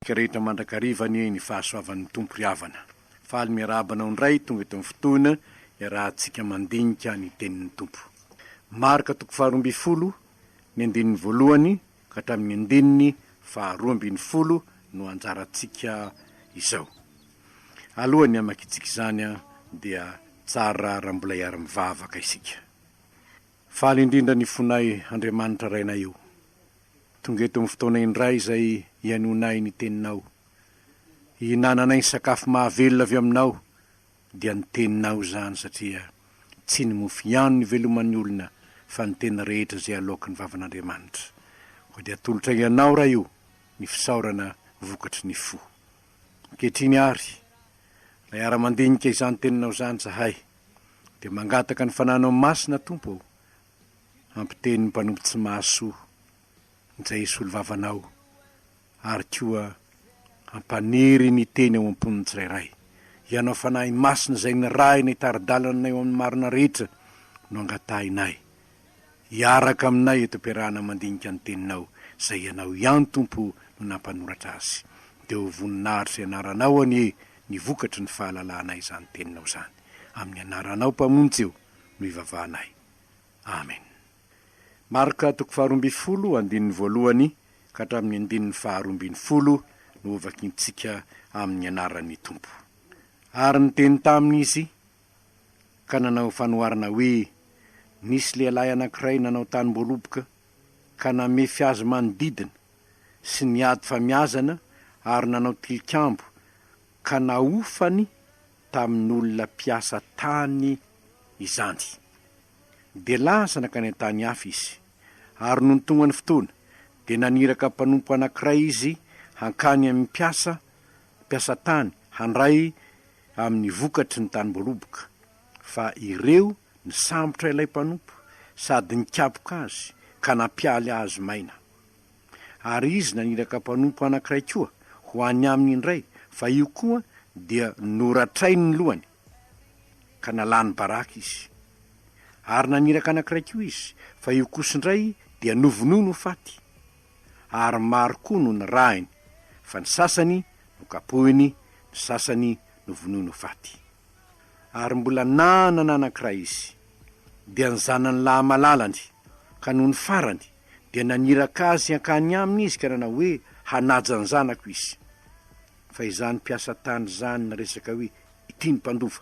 Ka rehetra mandrakariva anie ny fahasoavan'ny Tompo ry havana. Faly miarahaba anao indray tonga eto amin'ny fotoana iarahantsika mandinika ny tenin'ny Tompo. Marka toko faharoa ambin'ny folo ny andininy voalohany ka hatramin'ny andininy faharoa ambin'ny folo no anjarantsika izao. Alohan'ny hamakitsika izany dia tsara raha mbola hiara-mivavaka isika. Faly indrindra ny fonay Andriamanitra Rainay o! Tonga eto amin'ny fotoana indray izay hihainoanay ny Teninao. Hihinananay ny sakafo mahavelona avy Aminao, dia ny Teninao izany satria tsy ny mofo ihany no iveloman'ny olona fa ny tena rehetra izay aloaky ny vavan'Andriamanitra. Koa dia atolotray Anao Ray o! ny fisaorana vokatry ny fo. Ankehitriny ary, ilay ara-mandinika izany Teninao izany izahay. Dia mangataka ny Fananao Masina Tompo ô, ampiteny ny mpanompo tsy mahasoa izay hisolo vavanao ary koa ampaniry ny Teny ao am-pon'ny tsirairay. Ianao Fanahy Masina izay nirahina hitari-dalana anay ao amin'ny marina rehetra no angatahinay hiaraka aminay eto am-piarahana mandinika ny Teninao, izay Ianao ihany, Tompo, no nampanoratra azy. Dia ho voninahitr'izay anaranao anie ny vokatry ny fahalalahanay izany Teninao izany. Amin'ny anaranao, Mpamonjy ô, no ivavahanay. Amen. Marka toko faharoa ambin'ny folo, andininy voalohany ka hatramin'ny andininy faharoa ambin'ny folo no hovakintsika amin'ny anaran'ny Tompo. Ary niteny taminy izy, ka nanao fanoharana hoe, Nisy lehilahy anankiray nanao tanim-boaloboka ka namefy azy manodidina sy niady famiazana ary nanao tilikambo ka nahofany tamin'olona mpiasa tany izany. Dia lasa nankany an-tany hafa izy, ary nony tonga ny fotoana, dia naniraka mpanompo anankiray izy hankany amin'ny mpiasa mpiasa tany handray amin'ny vokatry ny tanim-boaloboka, fa ireo nisambotra ilay mpanompo sady nikapoka azy ka nampialy azy maina. Ary izy naniraka mpanompo anankiray koa ho any aminy indray, fa io koa dia noratrainy ny lohany, ka nalany baraka izy. Ary naniraka anankiray koa izy, fa io kosa indray dia novonoiny ho faty. Ary maro koa no nirahiny, fa ny sasany Nokapohiny, ny sasany novonoiny ho faty. Ary mbola nanana anankiray izy, dia ny zanany lahy malalany, ka nony farany, dia naniraka azy hankany aminy izy ka nanao hoe, Hanaja ny zanako izy. Fa izany mpiasa tany izany niresaka hoe, Ity ny mpandova.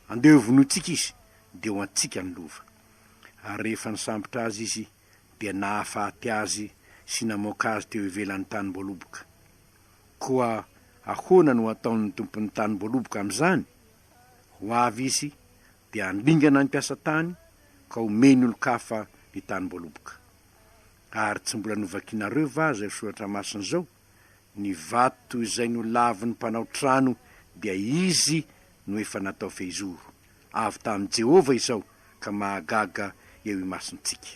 Andeha hovonointsika izy, dia ho antsika ny lova. Ary rehefa nisambotra azy izy, dia nahafaty azy sy namoaka azy teo ivelan'ny tanim-boaloboka. Koa ahoana no hataon'ny tompon'ny tanim-boaloboka amin'izany? Ho avy izy dia handringana ny mpiasa tany ka homeny olon-kafa ny tanim-boaloboka. Ary tsy mbola novakinareo va izao soratra masina izao, Ny vato izay nolavin'ny mpanao trano dia izy no efa natao fehizoro? avy tamin'i Jehovah izao ka mahagaga eo imasontsika.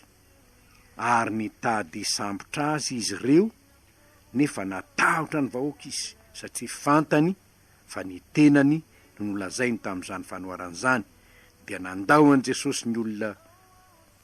Ary nitady hisambotra azy izy ireo, nefa natahotra ny vahoaka izy, satria fantany fa ny tenany no nolazainy tamin'izany fanoharana izany, dia nandao an'i Jesosy ny olona.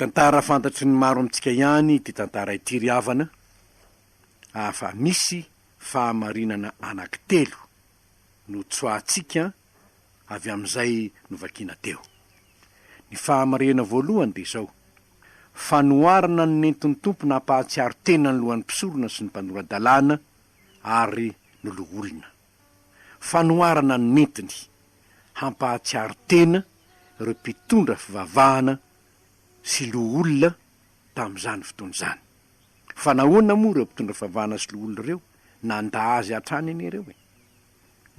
Tantara fantatry ny maro amintsika ihany ity tantara ity ry havana ah fa misy fahamarinana anaky telo no tsoahantsika avy amin'izay novakiana teo. Ny fahamarihana voalohany dia izao, fanoharana ny nentin'ny Tompo nampahatsiaro tena ny lohan'ny mpisorona sy ny mpanora-dalàna ary ny loholona. fanoharana nentiny hampahatsiaro tena ireo mpitondra fivavahana sy loholona tamin'izany fotoana izany. Fa nahoana moa ireo mpitondra fivavahana sy loholona ireo nandà azy hatrany anie ireo e?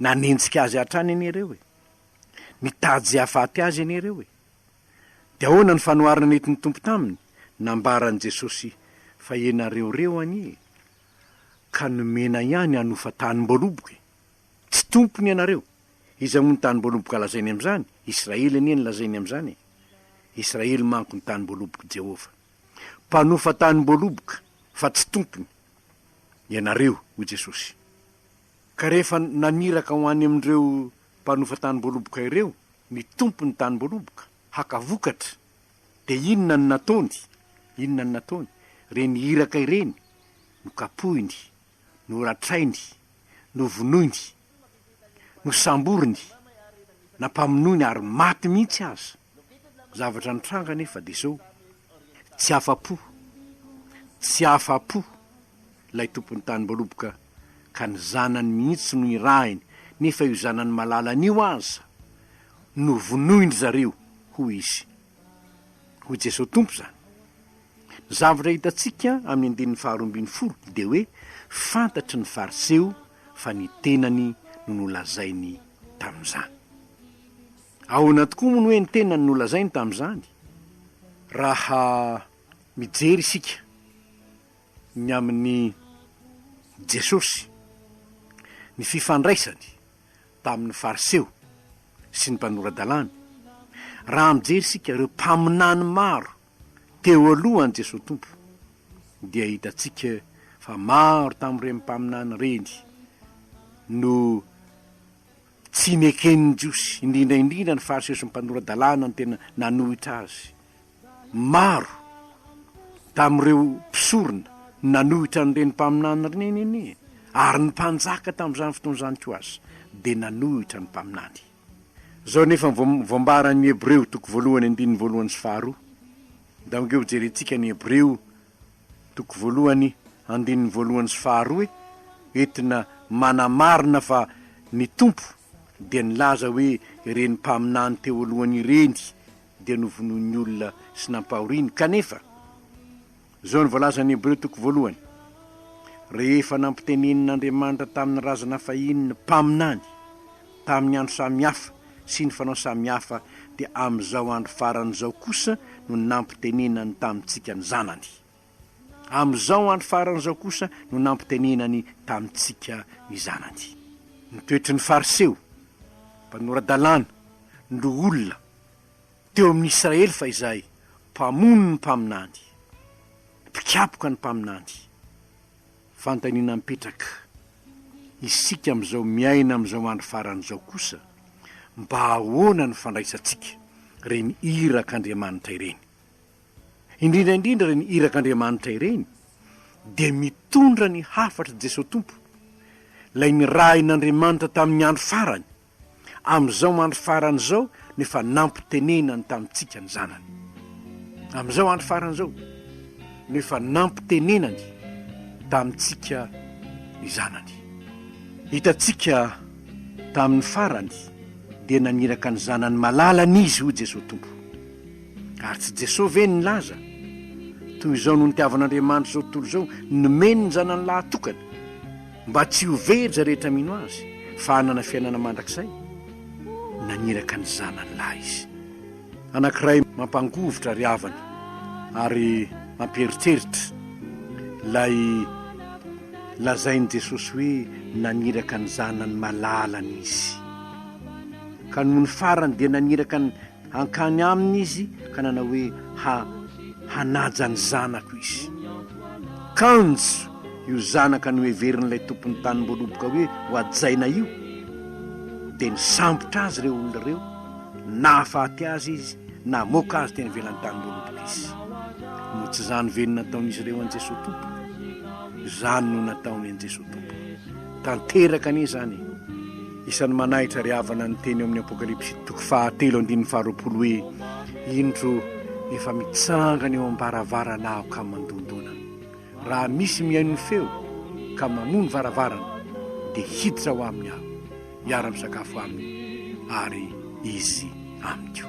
Nanenjika azy hatrany anie ireo e? Nitady hahafaty azy anie ireo e? Dia ahoana ny fanoharana nentin'ny Tompo taminy? Nambaran'i Jesosy fa ianareo ireo anie e! ka nomena ihany hanofa tanim-boaloboka e! Tsy tompony ianareo! Iza moa ny tanim-boaloboka lazainy amin'izany? Israely anie no lazainy amin'izany e! Israely manko ny tanim-boalobok'i Jehovah. Mpanofa tanim-boaloboka, fa tsy tompony, ianareo, hoy Jesosy. Ka rehefa naniraka ho any amin'ireo mpanofa tanim-boaloboka ireo ny tompon'ny tanim-boaloboka, haka vokatra, Dia inona no nataony? Inona no nataony? Ireny iraka ireny, nokapohiny, noratrainy, novonoiny, nosamboriny, nampamonoiny ary maty mihitsy aza. Ny zavatra nitranga anefa dia izao, tsy afa-po, tsy afa-po ilay tompon'ny tany Mbaloboka ka ny zanany mihitsy no irahiny nefa io zanany malalany io aza no vonoin-dry zareo, hoy izy. Hoy Jesosy Tompo izany. Ny zavatra hitantsika amin'ny andininy faharoa ambin'ny folo dia hoe fantatry ny Fariseo fa ny tenany no nolazainy tamin'izany. Ahoana tokoa moa no hoe ny tenany no nolazainy tamin'izany? Raha mijery isika ny amin'i Jesosy, ny fifandraisany tamin'ny Fariseo sy ny mpanora-dalàna, raha mijery isika ireo mpaminany maro teo alohan'i Jesosy Tompo, dia hitantsika fa maro tamin'ireny mpaminany ireny no tsy neken'ny Jiosy, indrindra indrindra ny Fariseo sy ny mpanora-dalàna no tena nanohitra azy Maro tamin'ireo mpisorona nanohitra an'ireny mpaminany ireny anie, ary ny mpanjaka tamin'izany fotoana izany koa aza dia nanohitra ny mpaminany. Izao anefa no voambaran'ny Hebreo toko voalohany andininy voalohany sy faharoa, dia angeo hojerentsika ny Hebreo toko voalohany andininy voalohany sy faharoa entina manamarina fa ny Tompo dia nilaza hoe ireny mpaminany teo alohany ireny dia novonoin'ny olona sy nampahoriany, kanefa, izao no voalazan'ny Hebreo toko voalohany, Rehefa nampitenenin'Andriamanitra tamin'ny razana fahiny ny mpaminany, tamin'ny andro samy hafa sy ny fanao samy hafa, dia amin'izao andro farany izao kosa no nampitenenany tamintsika ny Zanany. Amin'izao andro farany izao kosa no nampitenenany tamintsika ny Zanany. Ny toetry ny Fariseo, mpanora-dalàna, no olona teo amin'ny Israely fahizay, mpamono ny mpaminany, mpikapoka ny mpaminany. Fanontaniana mipetraka, isika amin'izao miaina amin'izao andro farany izao kosa, mba ahoana no fandraisantsika ireny irak'Andriamanitra ireny? Indrindra indrindra ireny irak'Andriamanitra ireny dia mitondra ny hafatr'i Jesoa Tompo, ilay nirahin'Andriamanitra tamin'ny andro farany, amin'izao andro farany izao no efa nampitenenany tamintsika ny Zanany. Amin'izao andro farany izao no efa nampitenenany tamintsika ny Zanany. Hitantsika tamin'ny farany dia naniraka ny Zanany malalany Izy, hoy Jesoa Tompo. Ary tsy Jesoa ve nilaza, Toy izao no nitiavan'Andriamanitra izao tontolo izao, nomeny ny Zanany lahatokany, mba tsy ho very izay rehetra mino Azy, fa hanana fiainana mandrakizay? Naniraka ny Zanany lahy Izy. Anankiray mampangovitra ry havana, ary mampieritreritra ilay lazain'i Jesosy hoe naniraka ny Zanany malalany Izy. Ka nony farany dia naniraka ny. hankany aminy izy ka nanao hoe ha hanaja ny zanako izy. Kanjo io zanaka noheverin'ilay tompon'ny tanimboaloboka hoe hohajaina io dia nisambotra azy ireo olona ireo, nahafaty azy izy, namoaka azy teny ivelan'ny tanimboaloboka izy. Moa tsy izany ve no nataon'izy ireo an'i Jesoa Tompo? Izany no nataony an'i Jesoa Tompo. Tanteraka anie izany e! Isan'ny manahitra ry havana ny teny ao amin'ny Apokalypsy toko fahatelo andininy faharoapolo hoe, Indro, efa mitsangana eo am-baravarana aho ka mandondona. Raha misy mihaino ny feo ka manoa ny varavarana, dia hiditra ao aminy aho, hiara-misakafo aminy, ary izy amiko.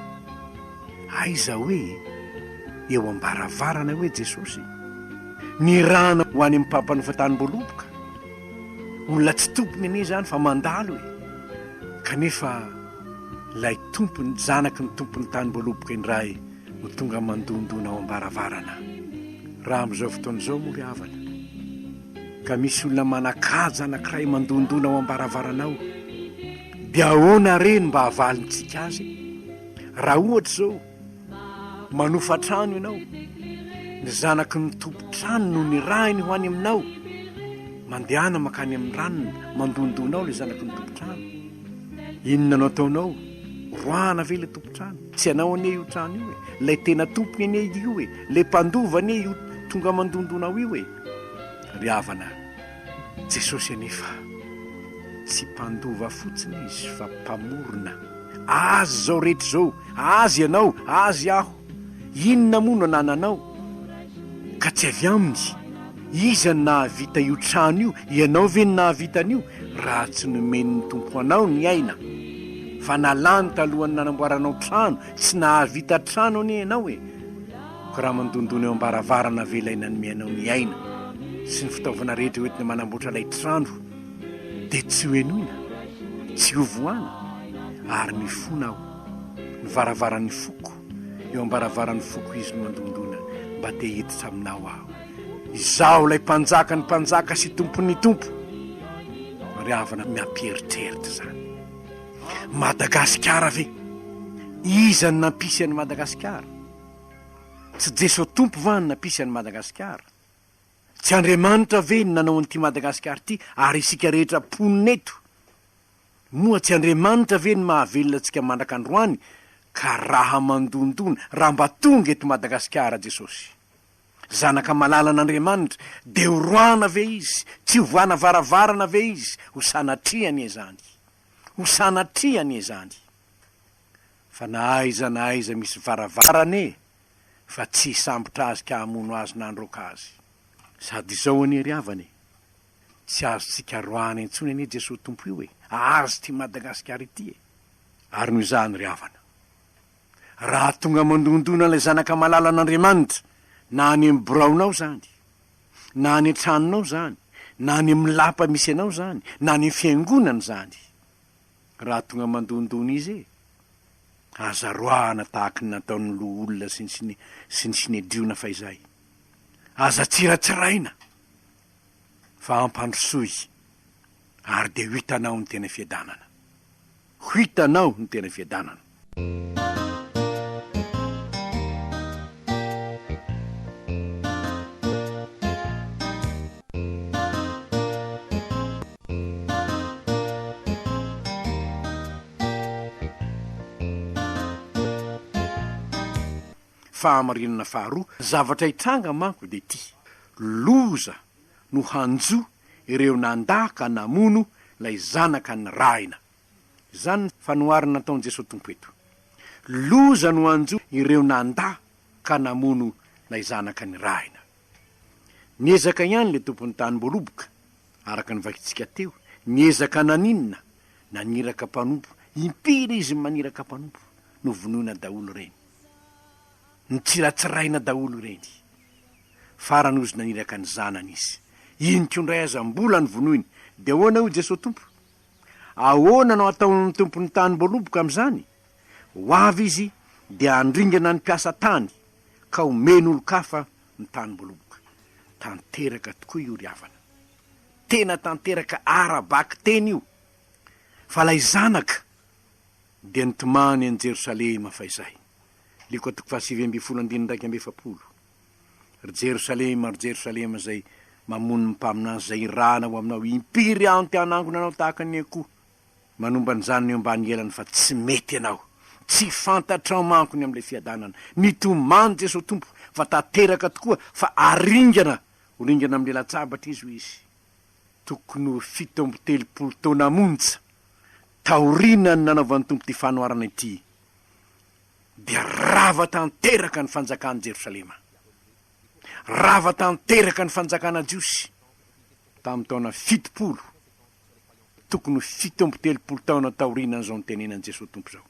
Aiza hoe eo am-baravarana eo hoe Jesosy? Nirahana ho any amin'ny mpampanofa tanim-boaloboka. Olona tsy tompony anie izany fa mandalo e! Kanefa ilay tompony, zanaky ny tompon'ny tany mboaloboka indray no tonga mandondona ao am-baravarana. Raha amin'izao fotoana izao moa ry havana ka misy olona manan-kaja anankiray mandondona ao am-baravaranao dia ahoana re no mba havalintsika azy? Raha ohatra izao, Manofa trano ianao, ny zanaky ny tompon-trano no nirahiny ho any aminao. Mandehana makany amin'ny ranona, mandondona ao ilay zanaky ny tompon-trano. Inona no ataonao? Roahana ve ilay tompon-trano? Tsy anao anie io trano io e, ilay tena tompony anie io e, ilay mpandova anie io tonga mandondona ao io e. Ry havana, Jesosy anefa tsy mpandova fotsiny izy fa mpamorona. Azy izao rehetra izao, azy ianao, azy aho. Inona moa no anananao ka tsy avy aminy? Iza no nahavita io trano io? Ianao ve no nahavita an'io? Raha tsy nomen'ny Tompo anao ny aina fa nalany talohan'ny nanamboaranao trano, tsy nahavita trano anie ianao e! Raha mandondona eo am-baravarana ve ilay nanome anao ny aina sy ny fitaovana rehetra hoentina manamboatra ilay trano dia tsy hohenoina, tsy hovohana? Ary mifona aho, ny varavaran'ny foko, eo am-baravaran'ny foko izy no mandondona mba te hiditra aminao aho. Izaho ilay Mpanjakan'ny mpanjaka sy Tompon'ny tompo. Ry havana miampieritreritra izany. Madagasikara ve? Iza no nampisy an'i Madagasikara? Tsy Jeso Tompo va ny nampisy an'i Madagasikara? Tsy Andriamanitra ve no nanao an'ity Madagasikara ity ary isika rehetra mponina eto? Moa tsy Andriamanitra ve no mahavelona antsika mandrak'androany ka raha mandondona, raha mba tonga eto Madagasikara Jesosy? Zanaka malalan'Andriamanitra, dia ho roana ve izy, tsy ho voana varavarana ve izy? Ho sanatria anie izany! Ho sanatria anie izany! Fa na aiza na aiza misy varavarana e! Fa tsy hisambotra azy ka hamono azy na handroaka azy. Sady izao anie ry havana e! Tsy azontsika roahina intsony anie Jesoa Tompo io e! Azy ity Madagasikara ity e! Ary noho izany ry havana. Raha tonga mandondona ilay zanaka malalan'Andriamanitra na any amin'ny biraonao izany, na any an-tranonao izany, na any amin'ny lapa misy anao izany, na any amin'ny fiangonana izany, Raha tonga mandondona izy e! Aza roahana tahaka ny nataon'ny loholona sy ny sy ny Synedriona fahizay. Aza tsiratsiraina fa ampandrosoy ary dia ho hitanao ny tena fiadanana. Ho hitanao ny tena fiadanana. Fahamarinana faharoa zavatra hitranga manko dia ity, loza no hanjo ireo nandà ka namono ilay zanaka nirahina. Izany ny fanoharana nataon'i Jesoa Tompo eto. Loza no hanjo ireo nandà ka namono ilay zanaka nirahina. Niezaka ihany ilay tompon'ny tany mboaloboka, araka ny vakintsika teo, niezaka naninona? Naniraka mpanompo, impiry izy no maniraka mpanompo? Novonoina daholo ireny. Notsiratsiraina daholo ireny. Farany hozy naniraka ny zanany izy. Inona koa indray aza mbola novonoiny. Dia ahoana hoy Jesoa Tompo? Ahoana no ataon'ny tompon'ny tanim-boaloboka amin'izany? Ho avy izy dia handringana ny mpiasa tany ka homeny olon-kafa ny tanim-boaloboka. Tanteraka tokoa io ry havana. Tena tanteraka ara-bakiteny io. Fa ilay Zanaka dia nitomany any Jerosalema fahizay. Lioka toko fahasivy ambin'ny folo andininy iraika amby efapolo. Ry Jerosalema, ry Jerosalema izay mamono ny mpaminany, izay irahana ao aminao, impiry aho no te hanangona anao tahaka ny akoho manomba ny zanany eo ambany elany fa tsy mety ianao. Tsy fantatrao manko ny amin'ilay fiadanana. Nitomany Jesoa Tompo fa tanteraka tokoa fa haringana ho ringana amin'ny latsabatra Izy hoy Izy. Tokony ho fito amby telopolo taona monja taorianan'ny nanaovan'ny Tompo ity fanoharana ity. dia rava tanteraka ny fanjakan'i Jerosalema. Rava tanteraka ny fanjakana jiosy tamin'ny taona fitopolo, tokony ho fito amby telopolo taona taorianan'izao nitenenan'i Jesoa Tompo izao.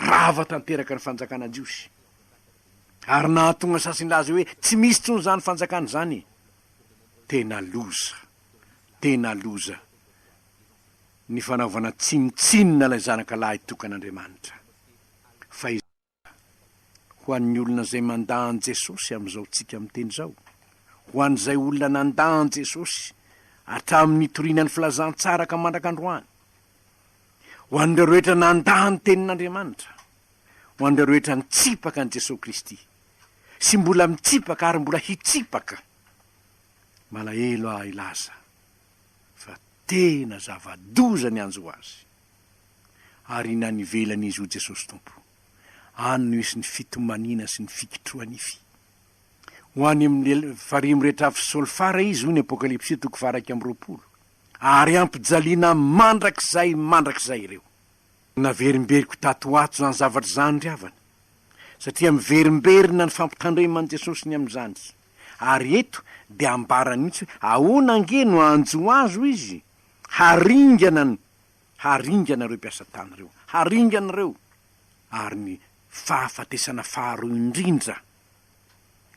Rava tanteraka ny fanjakana jiosy. Ary nahatonga sasy nilaza hoe tsy misy intsony izany fanjakana izany. Tena loza. Tena loza. ny fanaovana tsinontsinona ilay Zanaka lahy tokan'Andriamanitra. Fa izao kosa, ho an'ny olona izay mandà an'i Jesosy amin'izao tsika miteny izao, ho an'izay olona nandà an'i Jesosy hatramin'ny nitoriana ny filazantsara ka mandraka androany, ho an'ireo rehetra nandà ny Tenin'Andriamanitra, ho an'ireo rehetra nitsipaka an'i Jesosy Kristy, sy mbola mitsipaka ary mbola hitsipaka, malahelo aho hilaza, fa tena zava-doza ny hanjo azy, ary na nivelan'izy ho Jesosy Tompo, any no hisy ny fitomaniana sy ny fikitroha-nify. Ho any amin'ny farihy rehetra avy solfara izy, hoy ny Apokalypsy toko faha-iraika amby roapolo, ary hampijaliana mandrakizay mandrakizay ireo. Naverimberiko tato ho ato izany zavatra izany ry havana, satria miverimberina ny fampitandreman'i Jesosy ny amin'izany. Ary eto dia ambarany mihitsy hoe ahoana ange no hanjo azo izy? Haringana ny, haringana ireo mpiasa tany ireo, haringana ireo. Ary ny fahafatesana faharoa indrindra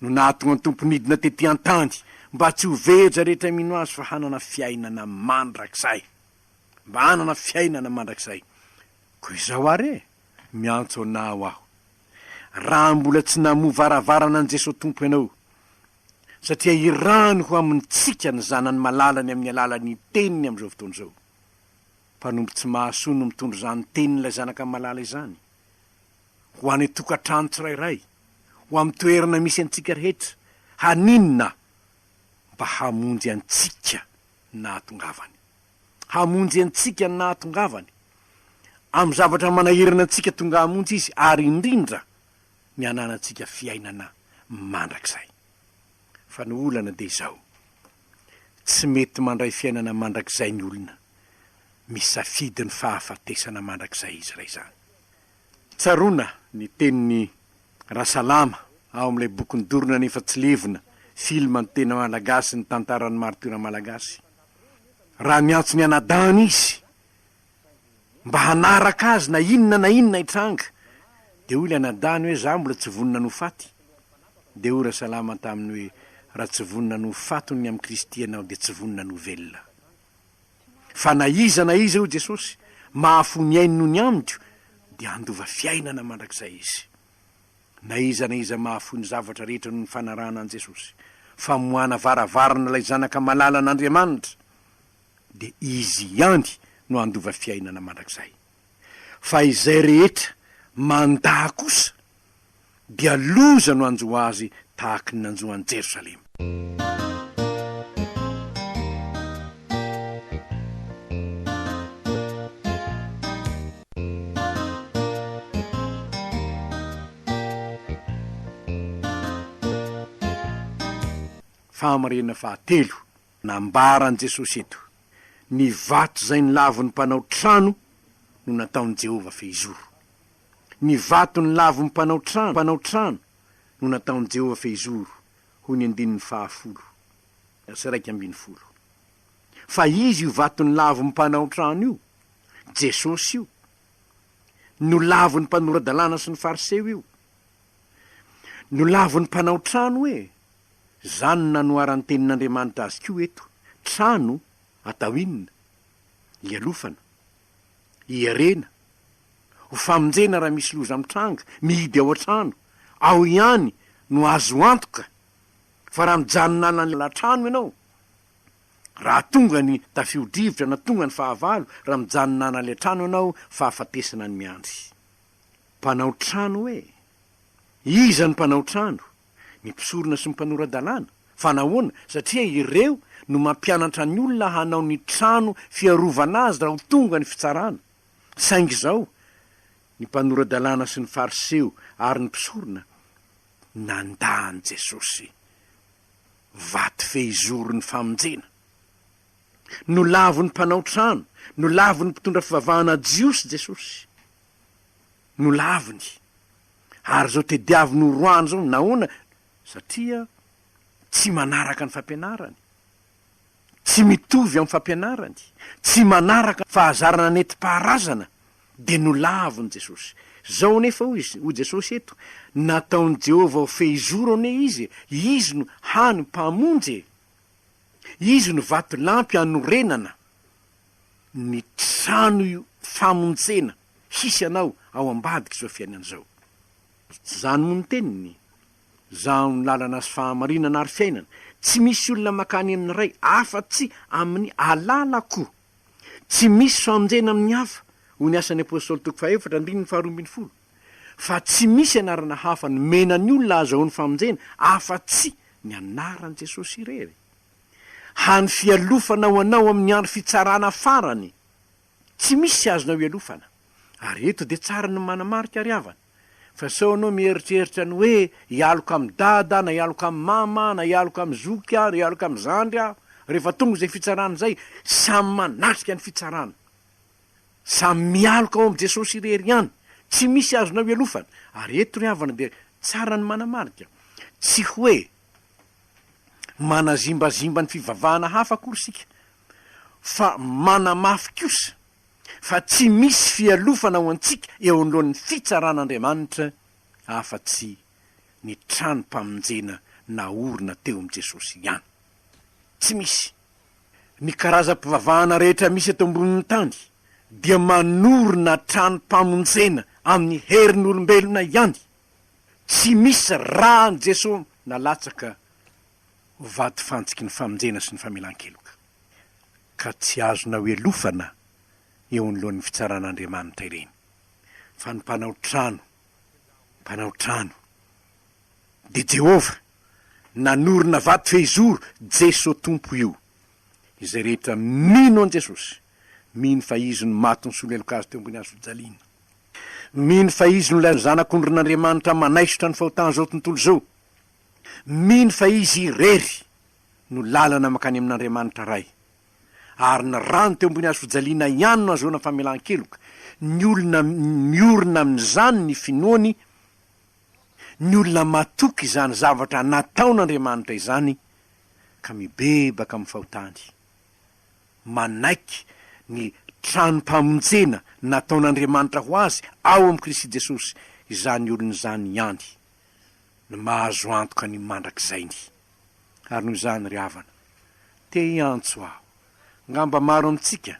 no nahatonga ny Tompo nidina tety an-tany mba tsy ho veja rehetra mino Azy fa hanana fiainana mandrakizay. Mba hanana fiainana mandrakizay. Koa izao ary e! Miantso Anao aho, raha mbola tsy namoha varavarana an'i Jesoa Tompo ianao, satria hirano ho amintsika ny Zanany Malalany amin'ny alalan'ny Teniny amin'izao fotoana izao. Mpanompo tsy mahasoa no mitondra izany Tenin'ilay Zanaka Malala izany, ho any an-tokantrano tsirairay, ho amin'ny toerana misy antsika rehetra, haninona? Mba hamonjy antsika nahatongavany. hamonjy antsika ny nahatongavany, amin'ny zavatra manahirana antsika tonga hamonjy Izy, ary indrindra ny hananantsika fiainana mandrakizay. Fa ny olana dia izao, tsy mety mandray fiainana mandrakizay ny olona misafidy ny fahafatesana mandrakizay izy raizany. Tsaroana ny tenin'i Rasalama ao amin'ilay bokin'ny dorona nefa tsy levona, film ny tena Malagasy, ny tantaran'ny maritiora Malagasy. raha miantso ny anadahiny izy mba hanaraka azy na inona na inona hitranga, dia hoy ilay anadahiny hoe za mbola tsy vonona ny ho faty, dia hoy Rasalama taminy hoe raha tsy vonona ny ho faty ny amin'i Kristy ianao dia tsy vonona ny ho velona. Fa na iza na iza, hoy Jesosy, mahafoy ny ainy noho ny amiko dia handova fiainana mandrakizay izy. Na iza na iza mahafoy ny zavatra rehetra noho ny fanarahana an'i Jesosy, famoahana varavarana ilay Zanaka malalan'Andriamanitra, dia Izy ihany no handova fiainana mandrakizay. Fa izay rehetra mandà kosa dia loza no hanjo azy tahaky ny nanjo an'i Jerosalema. Fahamarinana fahatelo nambaran'i Jesosy eto, Ny vato izay nilavo ny mpanao trano no nataon'i Jehovah fehizoro. Ny vato nilavo ny mpanao trano, mpanao trano, no nataon'i Jehovah fehizoro, hoy ny andininy fahafolo sy iraika ambin'ny folo. Fa izy io vaton'ny lavon'ny mpanao trano io, Jesosy io, no lavon'ny mpanora-dalàna sy ny Fariseo io. No lavon'ny mpanao trano e! Izany no nanoharan'ny Tenin'Andriamanitra azy koa eto, Trano, atao inona? Ialofana. Iherena, ho famonjena raha misy loza mitranga, mihidy ao an-trano, ao ihany no azo antoka fa raha mijanona any an-trano ianao, raha tonga ny tafio-drivotra na tonga ny fahavalo, raha mijanona any an-trano ianao, fahafatesana no miandry. Mpanao trano e! Iza no mpanao trano? ny mpisorona sy ny mpanora-dalàna. Fa nahoana? Satria ireo no mampianatra ny olona hanao ny trano fiarovana azy raha ho tonga ny fitsarana. Saingy izao, ny mpanora-dalàna sy ny Fariseo ary ny mpisorona nandà an'i Jesosy vato fehizoron'ny famonjena. Nolavin'ny mpanao trano, nolavin'ny mpitondra fivavahana jiosy Jesosy. Nolaviny. Ary izao tediaviny ho roahany izao nahoana? Satria tsy manaraka ny fampianarany. Tsy mitovy amin'ny fampianarany. Tsy manaraka ny fahazarana nentim-paharazana. Dia nolavin'i Jesosy. Izao anefa hoy izy, hoy Jesosy eto, Nataon'i Jehovah ho fehizoro anie izy e! Izy no hany Mpamonjy e! Izy no vatolampy hanorenana ny trano famonjena. hisy anao ao ambadik'izao fiainana izao. Tsy zany moa ny teniny? Zaho ny lalana sy fahamarinana ary fiainana, tsy misy olona makany amin'ny Ray afa-tsy amin'ny alalako. Tsy misy fanonjena amin'ny hafa, hoy ny Asan'ny Apostoly toko fahefatra andininy faharoa ambin'ny folo, fa tsy misy anarana hafa nomena ny olona ahazahoany famonjena afa-tsy ny anaran'i Jesosy irery. Hany fialofana ho anao amin'ny andro fitsarana farany. Tsy misy azonao hialofana. Ary eto dia tsara ny manamarika ry havana, fa sao ianao mieritreritra ny hoe hialoka amin'i dada na hialoka amin'i mama na hialoka amin'ny zoky aho na hialoka amin'ny zandry aho, rehefa tonga izay fitsarana izay, samy manatrika ny fitsarana. Samy mialoka ao amin'i Jesosy irery ihany. Tsy misy azonao hialofana. Ary eto ry havana dia tsara ny manamarika, tsy hoe manazimbazimba ny fivavahana hafa akory isika, fa manamafy kosa fa tsy misy fialofana ho antsika eo anoloan'ny fitsaran'Andriamanitra afa-tsy ny tranom-pamonjena naorina teo amin'i Jesosy ihany. Tsy misy. Ny karazam-pivavahana rehetra misy eto ambonin'ny tany dia manorina tranom-pamonjena amin'ny herin'olombelona ihany. Tsy misy raha an'i Jesosy nalatsaka vato fantsiky ny famonjena sy ny famelan-keloka, ka tsy azonao elofana eo anoloan'ny fitsaran'Andriamanitra ireny, fa ny mpanao trano, mpanao trano, dia Jehovah, nanorina vato fehizoro, Jeso Tompo io. Izay rehetra mino an'i Jesosy, mino fa Izy no maty nisolo heloka azy teo ambony hazofijaliana, mino fa Izy no ilay Zanak'ondrin'Andriamanitra manaisotra ny fahotan'izao tontolo izao, Mino fa Izy irery no lalana mankany amin'Andriamanitra Ray, ary ny rano teo ambony hazo fijaliana ihany no ahazoana famelan-keloka. Ny olona miorina amin'izany ny finoany, ny olona matoky izany zavatra nataon'Andriamanitra izany ka mibebaka amin'ny fahotany, manaiky ny tranom-pamonjena nataon'Andriamanitra ho azy ao amin'i Kristy Jesosy izany olona izany ihany. no mahazo antoka ny mandrakizay ny. Ary noho izany ry havana, te hiantso aho, ngamba maro amintsika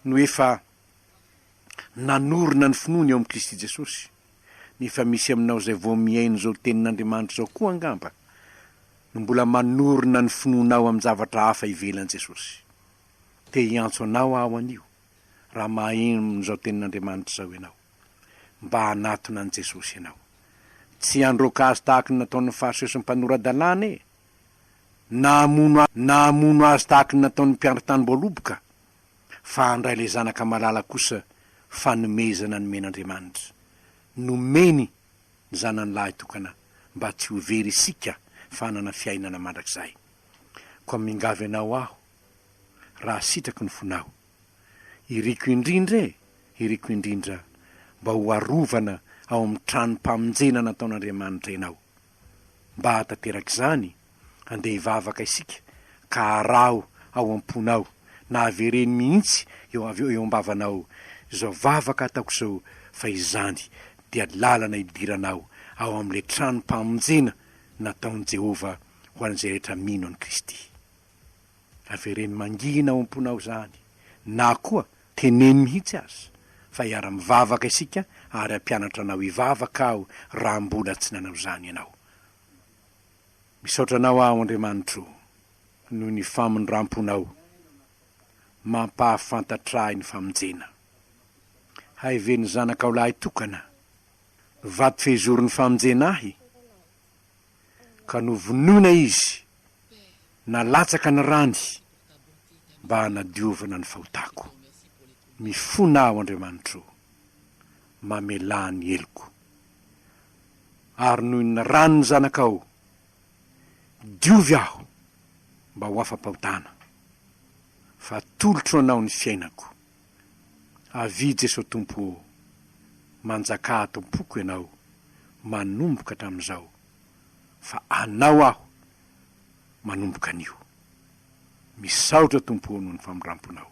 no efa nanorina ny finoany ao amin'i Kristy Jesosy, nefa misy aminao izay vao mihaino izao tenin'Andriamanitra izao koa angamba no mbola manorina ny finoanao amin-javatra hafa ivelan'i Jesosy. Te hiantso anao aho anio, raha maheno izao tenin'Andriamanitra izao ianao. mba hanatona an'i Jesosy ianao. Tsy handroaka azy tahaka ny nataon'ny Fariseo sy ny mpanora-dalàna e! Na hamono azy, na hamono azy tahaka ny nataon'ny mpiandry tanimboaloboka, fa handray ilay zanaka malala kosa fanomezana nomen'Andriamanitra. Nomeny ny Zanany lahy tokana mba tsy ho very isika fa hanana fiainana mandrakizay. Koa mingavy anao aho raha sitrako ny fonao. Iriko indrindra e! Iriko indrindra mba ho arovana ao amin'ny tranom-pamonjena nataon'Andriamanitra ianao. Mba hahatanteraka izany, andeha hivavaka isika ka araho ao am-ponao na avereno mihitsy eo avy eo eo am-bavanao izao vavaka ataoko izao fa izany dia lalana hidiranao ao amin'ilay tranom-pamonjena nataon'i Jehovah ho an'izay rehetra mino an'i Kristy. Avereno mangina ao am-ponao izany, na koa teneno mihitsy aza fa hiara-mivavaka isika ary hampianatra anao hivavaka aho raha mbola tsy nanao izany ianao. Misaotra anao aho Andriamanitro noho ny famindram-ponao mampahafantatra ahy ny famonjena. Haeven'ny Zanakao lahy tokana, vato fehizoron'ny famonjena ahy, ka novonoina izy, nalatsaka ny rany mba hanadiovana ny fahotako. Mifona aho, Andriamanitra o, mamelà ny heloko. Ary noho ny ran'ny Zanakao, diovy aho mba ho afa-pahotana, fa atolotro Anao ny fiainako. Avia Jeso Tompo ô! Manjakà ato am-poko Ianao, manomboka hatramin'izao, fa Anao aho manomboka anio. Misaotra Tompo ô noho ny famindram-ponao.